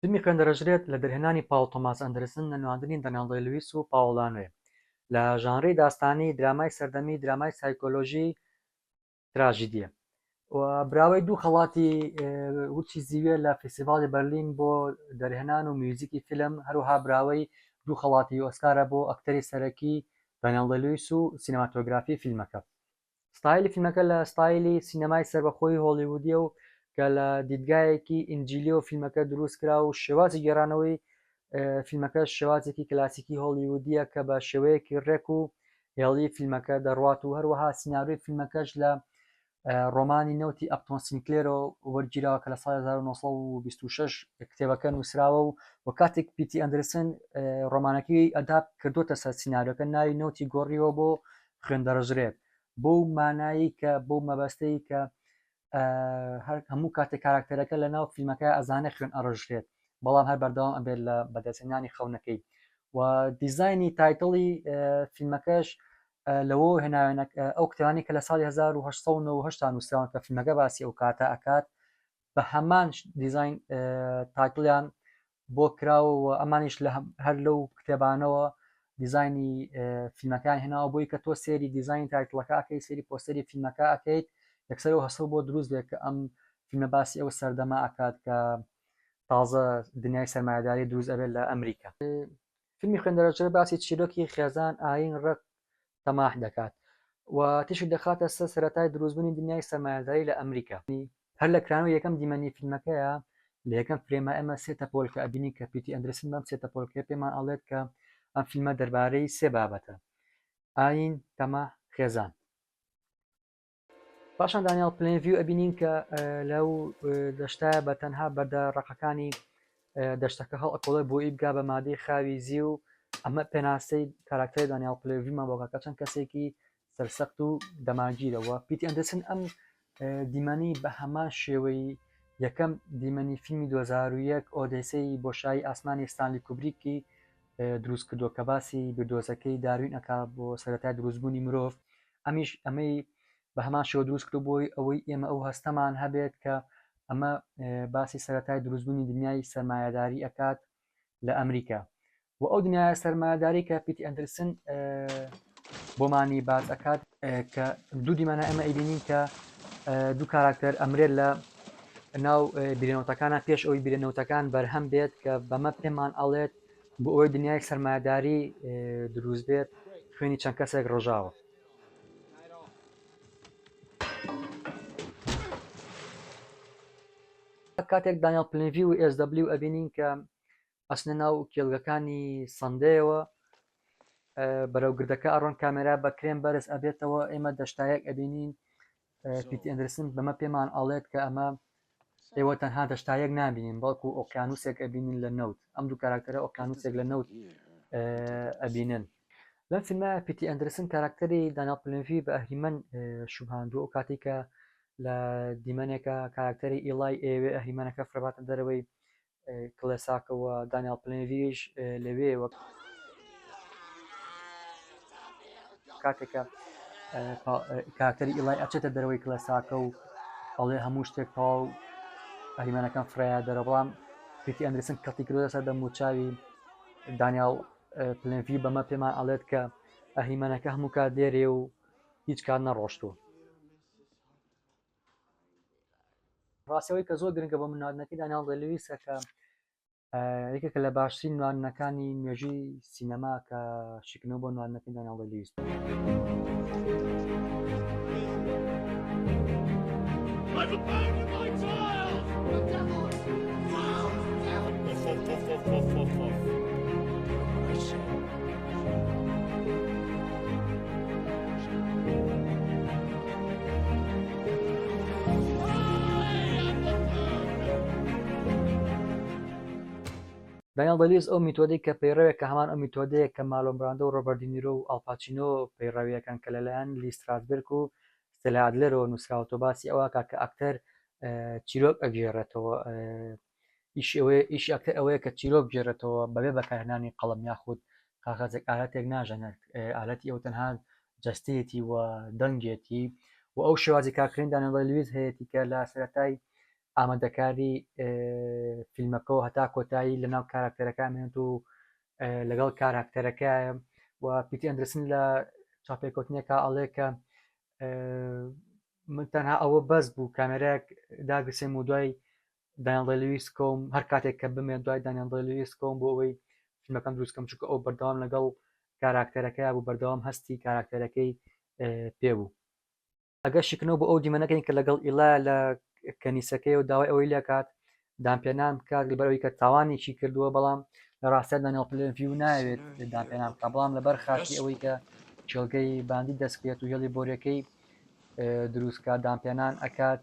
فیلمی خوێن دەرەژرێت لە دەرهێنانی پاوڵ تۆماس ئەندرسن لە نواندنی دەنێڵ دەی لویس و پاوڵ لانوێ لە ژانری داستانی درامای سەردەمی درامای سایکۆلۆژی تراژیدیە و براوەی دوو خەڵاتی ورچی زیوێ لە فیسیڤاڵی بەرلین بۆ دەرهێنان و میوزیکی فیلم هەروها براوەی دوو خەڵاتی ئۆسکارە بۆ ئەکتەری سەرەکی دەنێڵ دەلویس و سینەماتۆگرافی فیلمەکە ستایلی فیلمەکە لە ستایلی سینەمای سەربەخۆی هۆڵیوودیە و کە لە دیدگایەکی ئینجیلیەوە فیلمەکە دروست کرا و شێوازی گێڕانەوەی فیلمەکە شێوازێکی کلاسیکی هۆڵیوودیە کە بە شێوەیەکی ڕێک و هێڵی فیلمەکە دەڕوات و هەروەها سیناریۆی فیلمەکەش لە ڕۆمانی نەوتی ئەپتۆن سینکلێرۆ وەرگیراوە کە لە ساڵ 1926 کتێبەکە نووسراوە و و کاتێک پیتی ئەندرسن ڕۆمانەکەی ئەداب کردوتە سەر سینناریۆکە ناوی نەوتی گۆڕیەوە بۆ خوێن دەڕژرێت بەو مانایی کە بەو مەبەستەی کە هەر هەموو کاتێک کاراکتەرەکە لە ناو فیلمەکە ئەزانێت خوێن ئەڕژرێت بەڵام هەر بەردەوام ئەبێت لە بەدەستێنانی خەونەکەی و دیزایانی تایتڵی فیلمەکەش لەوە هێناوێنە ئەو کتانی کە لە ساڵی 1970 نووسراوان کە فیلمەکە باسی ئەو کاتە ئەکات بە هەمان دیزین تاکلیان بۆ کراوە و ئەمانیش لە هەر لەو کتێبانەوە دیزانی فیلمەکان هێناوە بۆی کە تۆ سێری دیزانی تایتڵەکە ئەکەیت سێری پۆستەری فیلمەکە ئەکەیت یەکسەر و هەسڵ بۆ دروست بێت کە ئەم فیلمە باسی ئەو سەردەما ئەکات کە تازە دنیای سەرمایهداری دروست ئەبێت لە ئەمریکا فیلمی خوێندەرەجێ باسی چیرۆکی خێزان ئاین ڕق تەماح دەکات و تیشک دەخاتە سەر سەرەتای دروستبونی دنیای سەرمایەداری لە ئەمریکا. هەر لە کرانەوە یەکەم دیمەنی فیلمەکەیە لە یەکەم فرێما ئێمە سێ تەپۆلکە ئەبینین کە پیتی ئەندرسن بەم سێ تەپۆلکەیە پێمان ئەڵێت کە ئەم فیلمە دەربارەی سێ بابەتە، ئاین، تەماح، خێزان. پاشان دانیال پلین ڤیو ئەبینین کە لەو دەشتە بە تەنها بەردە ڕقەکانی دەشتەکە هەڵ ئەکۆڵێ بۆ ئی بگا بە مادەی خاوی زی و ئەمە پێناسەی کاراکتەری دانیال پلێڤیمان بۆگاکە چەند کەسێکی سەرسەخت و دەماگیرەوە پیتی ئەندرسن ئەم دیمەنی بە هەمان شێوەی یەکەم دیمەنی فیلمی 2001 ئۆدەسی بۆ شای ئاسمانی ستانلی کوبریکی دروست کردو کە باسی بردۆزەکەی داروین ئەک بۆ سەرەتای دروستبوونی مرۆڤ ئەمیش ئەمەی بە هەمان شێوە دروست کرد بۆی ئەوەی ئێمە ئەو هەستەمان هەبێت کە ئەمە باسی سەتای دروستبوونی دنیای سەرمایهداری ئەکات لە ئەمریکا و ئەو دنیاە سەرمایهداری کە پیتی ئەندرسن بۆمانی باز ئەکات کە دوو دیمانە ئەمە ئەیبینین کە دوو کاراکتەر ئەمرێت لە ناو بیرنەوتەکانە پێش ئەوی بیرنەوتەکان بەرهەم بێت کە بەمە پێمان ئەڵێت بۆ ئەوەی دنیایەک سەرمایەداری دروست بێت خوێنی چەند کەسێک ڕژاوە کاتێک دانیال پلنڤی و SW ئەبینین کە ئەسنە ناو کێلگەکانی سندەیەوە بەرەو گردەکە ئەڕۆن کامێرا بە کرێن بەرز ئەبێتەوە ئێمە دەشتایەک ئەبینین پیت ئەندرسن بەمە پێمان ئەڵێت کە ئەمە ئێوە تەنها دەشتایەک نبینین بەڵکو ئۆقیانوسێک ئەبینین لە نەوت ئەم دوو کاراکتەرە ئۆقیانوسێک لە نەوت ئەبینن لەم فیلمە پیتی ئەندرسن کاراکتەری داناپلنڤی بە ئەهریمەن شوبهاندوو ئەو کاتی کە لە دیمەنێکە کاراکتەری ئیڵای ئێوێ ئەهریمانەکە فرەباتە دەرەوەی کڵێساکە و دانیاڵ پلنریش لەوێ وەک کاتێکە کاکتەری ئیڵای ئەچێتە دەرەوەی کلەساکە و ئەڵێ هەموو شتێک تەواو ئەریمانەکان فرایە دەرە بەڵام پیتی ئەندرسن کەڵتی کرۆ سەر دەم و چاوی دانیال پلنڤی بەمە پێمان ئەڵێت کە ئەهریمانەکە هەموو کات لێرێ و هیچ کات نەڕۆشتووە ڕاستی ئەوەی کە زۆر گرنگە بۆ من نواندنەکەی دانیاڵ دێ لویسە کە یەکێکە لە باشترین نواندنەکانی مێژووی سینەما کە شیکنەوە بۆ نواندنەکەی دانیاڵ دێ لویس دانیێڵ دە لویس ئەو میتۆدەی کە پەیڕەوێک کە هەمان ئەو میتۆدەیە کە مالۆن براندۆ و ڕۆبەرت دینیرۆ و ئاڵپاچینۆ پەیڕەویەکەن کە لەلایەن لی ستراسبرگ و ستێلا ئادلەرەوە نووسراوەتەوە باسی ئەوە کە کە ئەکتەر چیرۆک ئەگێڕێتەوە ئیشی ئەکتەر ئەوەیە کە چیرۆک بگێڕێتەوە بەبێ بەکارهێنانی قەڵەم یاخود کاغەزێک ئالەتێک ناژەنێت ئالەتی ئەو تەنها جەستەیەتی و دەنگێتی و ئەو شێوازی کارکردن دانەوەی لویز هەیەی کە لە سەرەتای ئامادەکاری فیلمەکە و هەتا کۆتایی لەناو کاراکتەرەکە مێنێت و لەگەڵ کاراکتەرەکە و پیتی ئەندرسن لە چاپێکوتنێکە ئەڵێ کە من تەنها ئەوە بەس بوو کامێراک داگرسێم و دوای دانیێڵ دەی لویس کۆم هەر کاتێک کە بمێ دوای دانیێڵ دەی لویس کۆم بۆ ئەوەی فیلمەکەم دروستکەم چونکە ئەو بەردەوام لەگەڵ کاراکتەرەکەی بوو بەردەوام هەستی کاراکتەرەکەی پێ بوو ئەگەر شکنەوە بۆ ئەو دیمەنەکەین کە لەگەڵ ئیلا لە کەنیسەکەی و داوای ئەوەی لەکات دامپێنان بکات لەبەرەوەی کە تاوانێکی کردووە بەڵام لە ڕاستە دانیێڵ پلێڤیو ناوێت دامپێنان بکە بەڵام لەبەر خاتی ئەوەی کە کێڵگەی باندی دەستکرێت و هێڵی بۆرەکەی دروستکە دامپێنان ئەکات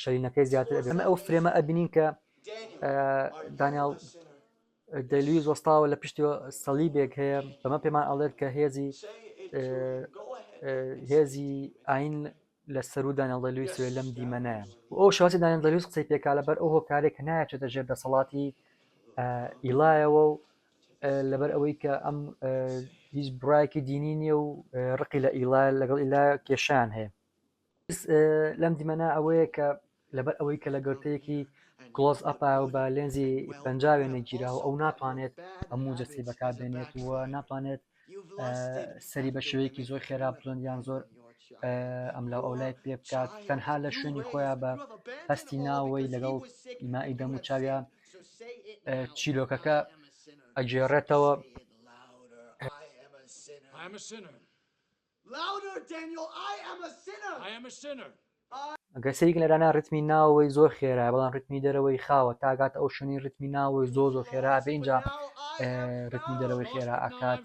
شەرینەکەی زیاتر ئەمە ئەو فرێمە ئەبینین کە دانیال دەلویز وەستاوە لە پشتی سەلیبێک هەیە بەمە پێمان ئەڵێت کە هێزی هێزی ئاین لە سەرو دانیالدەلویس لەم دیمەنەیە ئەو شاسی دانیالدەلویس قسەی پێکا لەبەر ئەو هۆکارێک نایچێتە ژێر دەسەڵاتی ئیلایەوە و لەبەر ئەوەی کە ئەم هیچ برایەکی دینی نییە و ڕقی لە ئیلا لەگەڵ ئیلا کێشان هەیە لەم دیمەنە ئەوەیە کە لەبەر ئەوەی کە لە گەوتەیەکی کلۆس ئەپا و بە لێنزی پنجاوێ نەگیرا و ئەو ناتوانێت هەموو جەسی بەکار بێنێت و ناتوانێت سەری بە شێوەیەکی زۆر خێرا بزۆن یان زۆر ئەم لە ئەولای پێ بکات تەنها لە شوێنی خۆیان بە هەستی ناوەی لەگەڵ ئیمائی دەم و چاویان چیرۆکەکە ئەگێڕێتەوە Louder Daniel I am a sinner! I am a sinner! I. ئەگەر سەیری گلەرانە ڕیتمی ناوەوەی زۆر خێرایە بەڵام ڕیتمی دەرەوەی خاوە تا ئەگاتە ئەو شوێنەی ڕیتمی ناوەوەی زۆر زۆر خێرا ئەبێ ئینجا ڕیتمی دەرەوەی خێرا ئەکات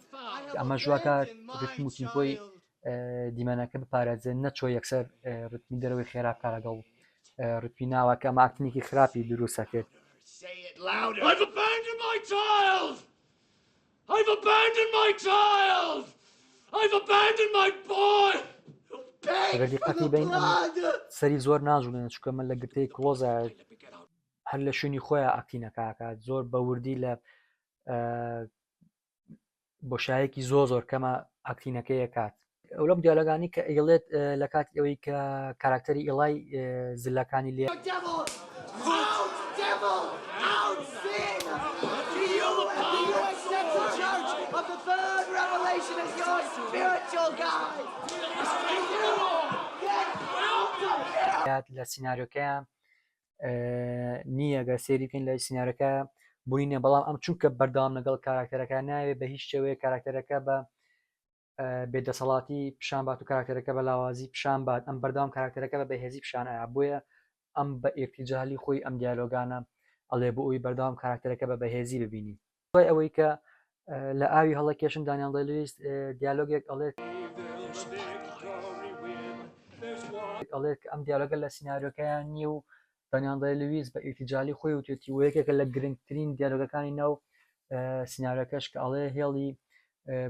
کە ئەمەش وا کات ڕیتم و تیمپۆی دیمەنەکە بپارێزێت نەچۆ یەکسەر ڕیتمی دەرەوەی خێرا بکە لەگەڵ ڕیتمی ناوە کە ماکتنێکی خراپی دروستەکرد I've abandoned my child! I've abandoned my boy! ئەگەر دیقەتی بین سەری زۆر ناجوڵێن چکە من لە گرتەی کلۆزە هەر لە شوێنی خۆیان ئەکتینەکەکات زۆر بەوردی لە بۆشایەکی زۆ زۆر کەمە ئەکتینەکەی کات ئەو لەم دیالۆگانی کە ئەیڵێت لە کاتی ئەوەی کە کاراکتەری ئیڵای زلەکانی لێ لە سینناریۆکە نییە گە سێری بکەین لە سینناەکە بووینە بەڵام ئەم چونکە بەردام لەگەڵ کاراکتەرەکە ناوێت بە هیچ شێوەیە کاراکتەرەکە بە بێ دەسەڵاتی پیشان بات و کاراکتەرەکە بە لاوازی پیشان بات ئەم بەردەوام کاراکتەرەکە بە بەهێزی پیشان ئایا بۆیە ئەم بە ئێرتیجاالی خۆی ئەم دیالۆگانە ئەڵێ بۆ ئەوی بەردەوام کاراکتەرەکە بە بەهێزی ببینی دوای ئەوەی کە لە ئاوی هەڵە کێشن دانیان دەلیست دیالۆگێک ئەڵێت ئەڵێت ئەم دیالۆگە لە سناریۆکەیان نییە و دانیال دەی لویس بە ئیرتیجالی خۆی وتێتی و یەکێکە لە گرنگترین دیالۆگەکانی ناو سینارەکەش کە ئەڵێ هێڵی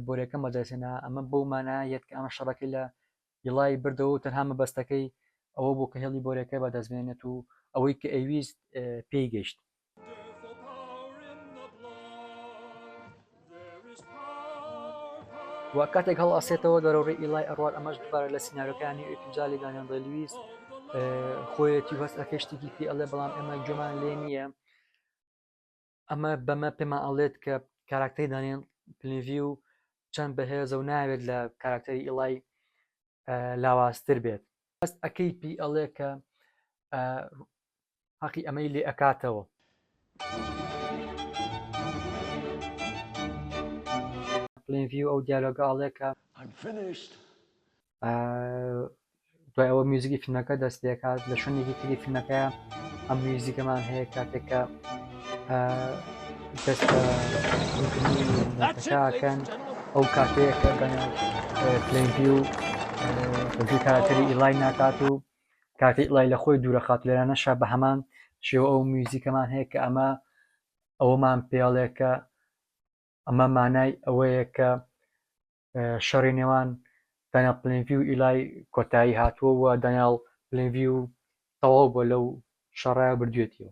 بۆرەکەم بەدەستێنا ئەمە بۆ مانا یەت کە ئەمە شەڕەکەی لە یڵای بردەوە تەنها مەبەستەکەی ئەوە بۆ کە هێڵی بۆرەکە بەدەستبێنێت و ئەوەی کە ئەویست پێی گەشت و کاتێک هەڵ ئاسێتەوە دەرەوە ڕێ ئیلای ئەڕوات ئەمەش دوبارە لە سینناەکانی ئەتوجالی دانیان دەلویست خۆیەتی هەست ئەکە شتێکی پێ ئەڵێ بەڵام ئەمە گوێمان لێ نییە ئەمە بەمە پێمان ئەڵێت کە کاراکتەری دانیان پلنڤی و چەند بەهێزە و ناوێت لە کاراکتەری ئیڵای لاوازتر بێت هەست ئەەکەی پی ئەڵێ کە هەقی ئەمەی لێ ئەکاتەوە. پلین ڤیو ئەو دیالۆگە ئاڵێکە دوای ئەوە میوزیکی فیلمەکە دەست پێکات لە شوێنێکی تری فیلمەکە ئەم میوزیکەمان هەیە کاتێکە دەست کەن ئەو کاتەیە کە پلین ڤیو بەجی کارەکەری ئیلای ناکات و کاتێ ئڵای لە خۆی دوورە خات لێرانە شا بە هەمان شێوە ئەو میوزیکەمان هەیە کە ئەمە ئەوەمان پێڵێ کە ئەمە مانای ئەوەیە کە شەڕی نێوان دانیا پلنڤی و ئیلای کۆتایی هاتووە و دانیال پلنڤی و تەواو بۆ لەو شەڕای بردوێتیەوە